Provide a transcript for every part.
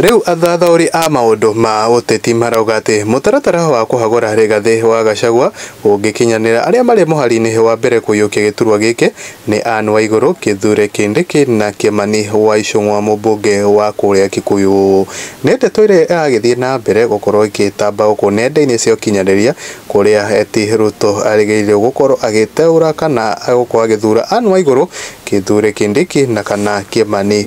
Rĩu athathaũri a maũndũ ma ũteti marauga atĩ mũtaratara wa kũhagũra Rigathĩ wa Gachagua ũngĩkinyanĩra, arĩa marĩ mũhari-inĩ wa mbere kũiyũkia gĩturwa gĩkĩ nĩ Ann Waigũrũ, Kithure Kindiki na Kimani wa Ichung'wa mũmbunge wa kũrĩa Kikuyu. Nĩ ndeto ĩrĩa ĩragĩthiĩ na mbere gũkorwo ĩgĩtamba gũkũ nenda-inĩ cia ũkinyanĩria kũrĩa eti Ruto arĩgĩrĩirwo gũkorwo agĩteũra kana agũkorwo agĩthura Ann Waigũrũ, Kithure Kindiki na kana Kimani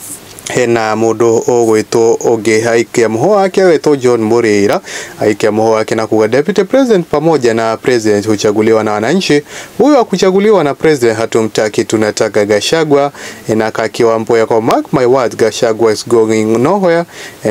hena mũndũ ũgwĩtwo ũngĩ aikia mũhũ wake wetwo John Mũrĩra aikia mũhũ wake na kuga deputy president pamoja na president huchaguliwa na wananchi, huyo akuchaguliwa na president hatumtaki, tunataka Gashagwa na kakiwa mboya kwa mark my words, Gashagwa is going nowhere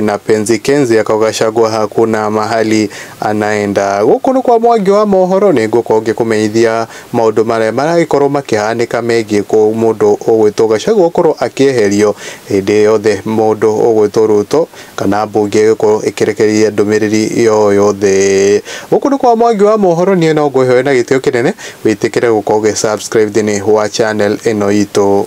na penzi kenzi yako Gashagwa hakuna mahali anaenda. Gũkũ nĩ kwa mwangi wa mohoro nĩ ngũkonge kũmenyithia maũndũ marĩa maragĩkorwo makĩhanĩka megiĩ mũndũ ũgwĩtwo Gachagua gũkorwo akĩeherio, hĩndĩ yothe mũndũ ũgwĩtwo Ruto kana mbunge ĩgĩkorwo ĩkĩrekereria ndũmĩrĩri o yothe. Gũkũ nĩ kwa Mwangi wa mohoro, niĩ no ngwĩhoere na gĩtĩo kĩnene wĩtĩkĩre gũkorwo ũgĩ subscribe thĩinĩ wa channel ĩno itũ.